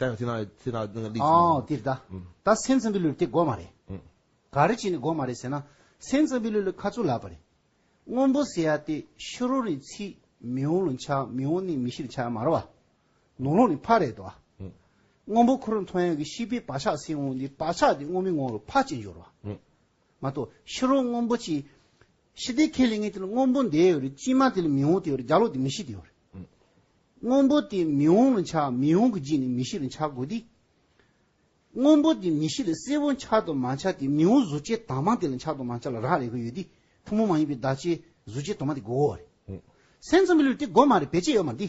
ཨ། འདི་ལྟ། ད་སེམས་ཙམ་པའི་ལུས་དེ་སྒོ་མ་རེད། ག་རེ་བྱས་ནས་སྒོ་མ་རེད་ཟེར་ན། སེམས་ཙམ་པའི་ལུས་ལ་ཁ་ཚུར་ལག་པ་རེད། སྔོན་པོ་ཟེར་ཡ་དེ་ཤོ་རོ་རེད་ཚིག་མི་འོང་ལོ་འཆག་མི་འོང་ནི་མི་ཤི་ལ་འཆག་ཡ་མ་རོ་བ། ནོར་ལོག་ནི་ཕ་རེད་དོ་བ། སྔོན་པོ་ཁོ་རང་མཐོང་ཡ་གི་ཤི་པའི་བག་ཆགས་སེམས་འོང་དེ་བག་ཆགས་དེ་སྔོ་མི་འོང་ལོ་ཕ་ཅེས་འབྱོར་བ། མ་གཏོགས་ཤོ་རོ་སྔོན་པོ་ཅེས་ཤི་དེ་ཁས་ལེན་ངེས་དེ་ལ་སྔོན་པོ་འདས་ཡོད་རེད་ཅི་མ་དེ་ལ་མི་འོང་དེ་ཡོད་རེད་བརྒྱ་ལོག་དེ་མི་ཤི་དེ་ཡོད་རེད། སྔོན་པོ་དེ་མི་འོང་ལ་འཆག་མི་འོང་གི་རྗེས་ནས་མི་ཤི་ལ་འཆག་དགོས་དེ། སྔོན་པོ་དེ་མི་ཤི་ལ་གསལ་བོ་འཆག་དང་མ་འཆག་དེ་མི་འོང་གཟུ་བྱས་དྭངས་མ་དེ་ལ་འཆག་དང་མ་འཆག་ལ་རག་ལས་དགོས་ཡོད་དེ་ཐུན་མོང་མ་ཡིན་པའི་བརྡ་ཆད་གཟུ་བྱས་དྭངས་མ་དེ་དགོས་འོ་རེད། སེམས་ཙམ་པའི་ལུས་དེ་དགོས་མ་རེད་བེད་སྤྱད་ཡོད་མ་འདི།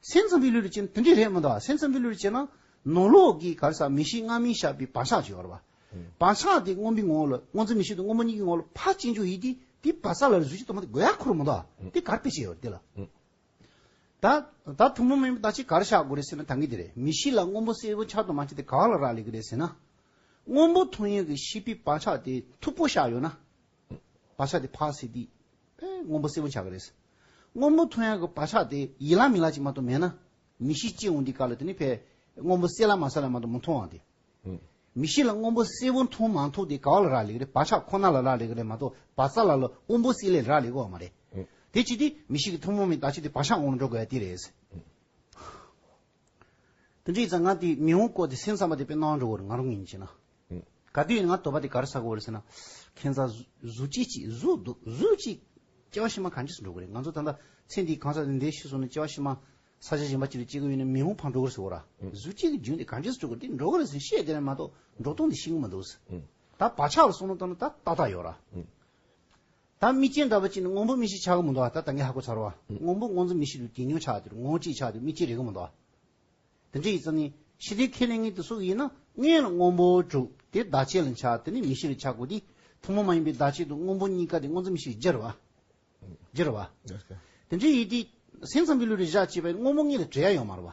སེམས་ཙམ་པའི་ལུས་ལ་བྱེད་ན་དེ་འདྲས་རེད་མི་འདུག་སེམས་ཙམ་པའི་ལུས་ལ་བྱེད་ན་ནོར་ལོག་གི་གར་ས་མི་ཤིག་སྔ་མིན་ཞག་པའི་བག་ཆགས་བྱེད་བར་བར་བག་ཆགས་དེ་སྔོན་པའི་ངོ་བོ་ལ་སྔོ་ཚལ་མི་ཤིག་དང་སྔོ་མོ་གཉིས་ཀྱི་ངོ་བོ་ལ་ཕ་གཅིག་འཇུག་ཡིན་དུས་དེའི་བག་ཆགས་ལ་རུས་ཀྱི་དོ་མ་དེ་དགོས་ཡ་ཁོ་རུ་མི་འདུག་དེ་གར་སྤེལ་བྱེད་ཡོད་རེད་དེ་ལ། ད་ད་ཐུང་མ་མིན་པ་ད་ཅིག་གར་བཞག་དགོས་རེད་ཟེར་ན་ད་ངས་དེ་རེད་མི་ཤིག་ལ་སྔོན་པོ་སེར་པོ་ཆགས་དུ་མ་ཆགས་དེ་ག་ལ་རག་ལས་ཀྱི་རེད་ཟེར་ན། སྔོན་པོ་ཐུང་ཡོད་ཀྱི་ཤི་པའི་བག་ཆགས་དེ་མཐུག་པོ་བཞག་ཡོད་ན། བག་ཆགས་དེ་འཕགས་སེ་དེས། ཕའི་སྔོན་པོ་སེར་པོ་འཆར་ག་རེས། སྔོན་པོ་ཐོན་ཡང་གི་བག་ཆགས་དེ་ཡིད་ལ་མི་ལ་ཅིག་མ་གཏོགས་མེད་ན། མི་ཤི་ཅི་འོང་འདི་ག་ལ་དེ་ནི་ཕའི། སྔོན་པོ་སེར་ལ་མ་ས་ལ་མ་གཏོགས་མི་མཐོང་བ་དེ། མི་ཤི་ལ་སྔོན་པོ་སེར་པོ་མཐོང་མ་མཐོང་དེ་ག་བ་ལ་རག་ལས་གི་རེད་བག་ཆགས་ཁོ་ན་ལ་རག་ལས་གི་རེད་མ་གཏོགས་བ་ས་ལ་ལ་སྔོན་པོ་སེར་ལས་རག་ལས་གི་བ་མ་རེད། དེ་ཅི་དེ་མི་ཤི་གི་ཐུན་མོང་མའི་བདག་ཅི་དེ་བག་ཆགས་ངོ་ལ་འགྲོ་དགོས་ཡ་དེ་རེད། དེ་འདྲའི་རྩ་ང་དེའི་མིང་བོ་བཀོད་དེ་སེམས་ཙམ་པ་དེ་པས་སྣང་འགྲོ་བར་ང་རུ་ངེས་ཅེ་ན། ག་དུས་ང་དོ་པ་དེ་གར་ཟག་གོ་རེད་ཟེར་ན། ཁྱེད་རང་གཟུགས་ཅི་ཅིག་གཟུགས་འདུག་གཟུགས་ཅིག། སྐྱེ་བ་ཕྱི་མ་གང་ཇི་སུ་འགྲོ་གི་རེད་ང་ཚོ་ད་ལྟ་ཚེ་འདིའི་གང་ཟག་འདི་འདི་ཤི་སོང་ནས་སྐྱེ་བ་ཕྱི་མ། ས་ཆ་གཞན་པ་ཅིག་ལ་སྐྱེ་གི་ཡོད་ནས་མིང་བོ་འཕངས་འགྲོ་གི་རེད་ཟེར་བ་ར། གཟུགས་ཅིག་གི་རྒྱུན་དེ་གང་ཇི་སུ་འགྲོ་གི་འདི་འགྲོ་གི་རེད་ཟེར་བཤད་དེ་རེད་མ་གཏོགས་འགྲོ་སྟངས་འདི་ཤེས་གི་མི་འདུག། ད་བག་ཆགས་ལ་སོང་ན་ད་ད་ལྟ་ཡོད་ར། ད་མི་སྐྱེ་འདྲ་བ་ཅིག་ནི་སྔོན་པོ་མི་ཞིག་ཆགས་ཀྱི་མི་འདུག་ད་ད་ངས་ཧ་གོ་ཚར་བ། སྔོན་པོ་སྔོ་འཛུམ་མི་ཞིག་གི་གད་སྙོག་ཆགས་དུས་ངོ་གཅིག་ཆགས་དུས་མི་སྐྱེ་རེ་གི་མི་འདུག་དེ་འདྲ་ཡིན་ཙང་ནི་ཤི་དེ་ཁས་ལེན་ངེས་དུ་སུ་ཡིན་ན་ངས་ལ་སྔོན་པོ་དྲུག་དེ་བདག་བསྐྱེད་ལ་འཆགས་དེ་ནི་མི་ཞིག་རེ་ཆགས་དགོས་དུས་ཐུན་མོང་མ་ཡིན་པའི་བདག་བསྐྱེད་དུ་སྔོན་པོ་གཉིས་ཀ་དེ་སྔོ་འཛུམ་མི་ཞིག་གི་རྒྱུ་རུ་བ། དེ་འདྲ་ཡིན་དུས་སེམས་ཙམ་གྱི་ལུས་རེ་བཞག་ཅེས་པའི་སྔོན་པོ་གཉིས་ལ་འབྲེལ་ཡ་ཡོད་མ་རེད་བ།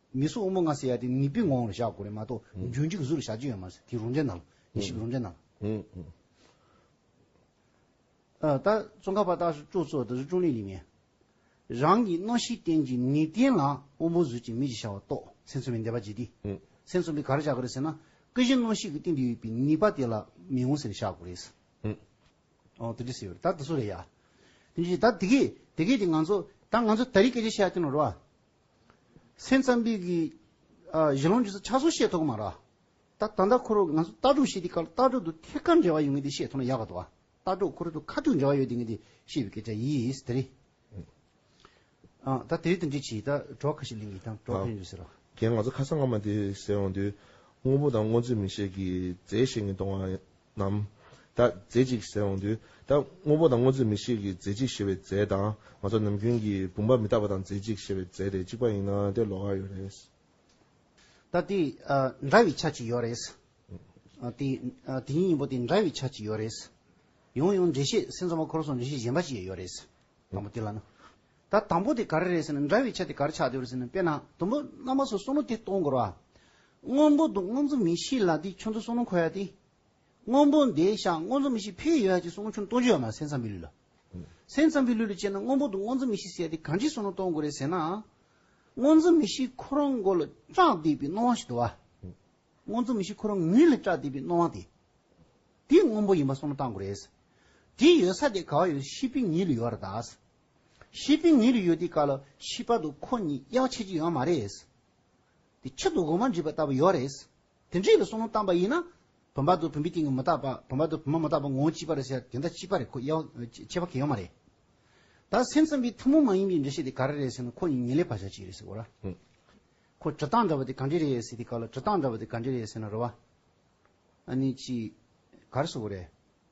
མི་སུ་དབུ་མ་ངག་སེ་ཡ་དེ་ནི་པི་ངོང་ལ་བཞག་དགོས་རེད་མ་གཏོགས་རྒྱུན་འཇིགས་བཟུར་བཞག་རྒྱུ་ཡོད་མ་རེད་དེ་རུང་འདྲེ་ནང་ལ་ཞིག་རུང་འདྲེ་ནང་ལ། ད་ཙོང་ཁ་པ་ཏག་ཤོག་ཅོག་ཚོ་ད་ཟུར་ཀྲོང་ལི་ལི་མེད། རང་གི་རྣོ་ཤིས་བསྟན་གྱི་ནི་བསྟན་ལ་དབུ་མོ་ཟུར་གྱི་མི་གཅིག་བཞག་བ་ཏོག་སེམས་ཚོམ་བི་འདེ་བ་ཇི་ཏི་སེམས་ཚོམ་བི་ག་ར་བཞག་གི་རེད་ཟེར་ན་ཀི་ཞི་རྣོ་ཤིས་ཀྱི་སྟེང་དུ་ཡོད་པའི་ནི་པ་དེ་ལ་མི་ངོ་ཟེར་བཞག་དགོས་རེད། ཨོ་དེ་འདྲི་སེ་ཡོད་རེད་ད་ད་སུ་རེད་ཡ། དེ་འདྲི་ད་དེ་གས་དེ་གས་དེ་ང་ཚོ་ད་ང་ཚོ་ད་རིས་སྐད་ཆ་བཤད་ཡག་ཀྱི་ནོ་རེད་བ། སེམས་ཙམ་པའི་གཞི་ལུང་རྒྱུད་ས་ཆ་སོགས་བཤད་ཐུབ་གི་མ་རེད། ད་ད་ལྟ་ཁོ་རང་ང་ཚོ་ལྟ་གྲུབ་བཤད་དུས་སྐབས་ལྟ་གྲུབ་དང་ཐད་ཀར་འབྲེལ་བ་ཡོད་ངེས་དེ་བཤད་ཐུབ་ན་ཡག་གི་འདུག་ལྟ་གྲུབ་ཁོ་རང་དང་ཁ་ཐུག་འབྲེལ་བ་ཡོད་དེ་ངེས་དེ་བཤད་པའི་སྐད་ཆ་ཡིས་དེ་རེད། ད་དེ་དོན་འདྲི་བྱེད་ད་གྲོགས་ཁ་ཤས་གླིང་གི་དང་གྲོགས་ཕན་ཡོད་ཟེར་རོ། ཁྱེད་ང་ཚོ་ཁ་སང་སྔ་མ་དེ་ཟེར་འོང་དུས་དངོས་པོ་དང་དངོས་རྫས་མི་བཤད་གི་རྫས་བཤད་ངེས་གཏོང་བ་ནམ། ད་རྫས་གཅིག་ཟེར་འོང་དུས། ད་དངོས་པོ་དང་དངོས་རྫས་མི་ཤེས་ཀྱི་རྫས་གཅིག་ཞེས་པའི་རྫས་དང། ང་ཚོ་ནམ་རྒྱུན་གྱི་བུམ་པ་མི་རྟག་པ་དང་རྫས་གཅིག་ཞེས་པའི་རྫས་དེ་གཅིག་པ་ཡིན་ན་དེ་ལོགས་ཀ་ཡོད་རེད། ད་དེ་འདྲ་བའི་ཆ་གཅིག་ཡོད་རེད། དེ་དེ་ཉིད་ཡིན་པོ་དེ་འདྲ་བའི་ཆ་གཅིག་ཡོད་རེད། ཡང་ཡང་འགྲེལ་བཤད་སེམས་ཙམ་པ་འཁོར་སོང་འགྲེལ་བཤད་གཞན་པ་ཅིག་ཡོད་རེད། དང་པོ་དེ་ལ་ནི། ད་དང་པོ་དེ་ག་རེ་རེད་ཟེར་ན་འདྲ་བའི་ཆ་དེ་ག་རེ་ཆགས་ཡོད་རེད་ཟེར་ན་དཔེར་ན་དུམ་བུ་རྣམ་པ་སོ་སོ་ནོ་དེ་སྟོང་དགོས་ར། སྔོན་པོ་འདུག་སྔོན་ཚུལ་མི་ཤེས་ལ་དེ་ཆུ་མཚོ་སོ་ནོ་འཁོར་ཡ་དེ། སྔོན་པོ་འདི་བཞག་སྔོན་ཚུལ་མི་ཤེས་ཕེ་ཡོད་ཡ་ཅིག་སོ་ནོ་ཆུ་སྟོང་རྒྱུ་ཡོད་མ་སེམས་ཙམ་པའི་ལུས་ལ། སེམས་ཙམ་པའི་ལུས་ལ་དཔྱད་ན་སྔོན་པོ་འདུག་སྔོན་ཚུལ་མི་ཤེས་ཟེར་ཡ་དེ་གང་ཅིག་སོ་ནོ་སྟོང་དགོས་རེད་ཟེར་ན། སྔོན་ཚུལ་མི་ཤེས་ཁོ་རང་མགོ་ལ་སྐྲག་བསྡད་པའི་སྣང་བ་ཞིག་འདུག་བ། སྔོན་ཚུལ་མི་ཤེས་ཁོ་རང་ངུས་ལ་སྐྲག་བསྡད་པའི་སྣང་བ་དེ། དེ་སྔོན་པོ་ཡིན་པ་སོ་ནོ་བརྟག་དགོས་རེད། དེ་ཡོད་ས་དེ་ག་བ་ཡོད་ཤེས་པའི་ངེས་ལུས་ཡོད་ར་དག། ཤེས་པའི་ཉིན་རེ་ཡོད་དེ་ག་ལ་ཤི་བར་དུ་ཁོ་གཉིས་གཡག་ཆད་ཀྱི་ཡོད་མ་རེད། དེ་ཕྱིར་དུ་འོ་མ་འདྲིས་པ་ལྟ་བུ་ཡོད་རེད། དེ་འདྲིས་པའི་སོ་ནོར་བཏང་པ་ཡིན་ན། བུམ་པ་དང་བུམ་པའི་སྟེང་གི་མི་རྟག་པ་བུམ་པ་དང་བུམ་པ་མི་རྟག་པ་ངོ་བོ་གཅིག་པ་རེད་ཟེར་དེ་འདྲ་གཅིག་པ་རེད་ཁོ་གཡག་ཆད་བར་གྱི་ཡོད་མ་རེད། ད་སེམས་ཙམ་པའི་ཐུན་མོང་མ་ཡིན་པའི་འགྲེལ་བཤད་དེ་ག་རེ་རེད་ཟེར་ན་ཁོ་གཉིས་ཉིན་ལས་བར་ཆ་གཅིག་རེད་ཟེར་གོ། ཁོ་གྲི་སྟངས་འདྲ་བ་དེ་ག་འདྲས་རེད་ཟེར་དེ་ག་ལ་གྲི་སྟངས་འདྲ་བ་དེ་ག་འདྲས་རེད་ཟེར་ན་རེ་བ། ཨ་ནི་ཅི། ག་རེ་ཟེར་བ་རེད།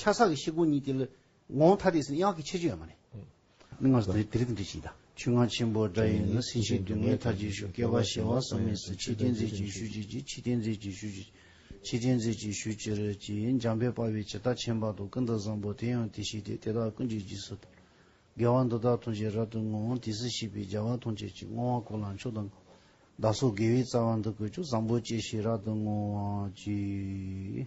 ཆ་ས་གི་ཤེལ་སྒོ་གཉིས་ཀྱི་ངོ་བོ་ཐ་དད་ཟིན་ན་གཡག་གི་ཆེ་ཆུང་ཡང་མ་རེད། མིག་སྔར་དེ་རིགས་འབྲི་བཞིན་གདའ། ཆོས་སྔགས་ཆེན་པོ་སྒྲ་ཡིན་ན་སྲིད་ཞིའི་སྡུག་བསྔལ་ཐར་གྱི་ཤུགས་སྐལ་པ་གཞལ་བ་ཟག་མེད་སུ་ཕྱི་རྐྱེན་རྫས་ཀྱིས་ཞུ་བྱེད་ཀྱི་ཕྱི་རྐྱེན་རྫས་ཀྱིས་ཞུ་བྱེད་ཀྱི་ཕྱི་རྐྱེན་རྫས་ཀྱིས་ཞུ་བྱེད་ཀྱི་འཇམ་དཔལ་དཔའ་བའི་བྱེ་བྲག་ཆེན་པ་དང་ཀུན་ཏུ་བཟང་པོ་དེ་ཡང་དེ་བཞིན་ཏེ་དེ་དག་ཀུན་གྱི་རྗེས་སུ་དང། དགེ་བ་འདི་དག་ཐོང་ཆེད་རབ་ཏུ་བསྔོ་འོང་དེ་སྲིད་ཤེས་པའི་བྱ་བ་ཐོང་ཆེད་ཀྱི་བསྔོ་བ་གོ་ལ་མཆོག་དང། བདག་སོགས་དགེ་བའི་རྩ་བ་འདི་ཀུན་ཀྱང་བཟང་པོ་སྐྱེ་ཞེས་རབ་ཏུ་བསྔོ་བར་བགྱི།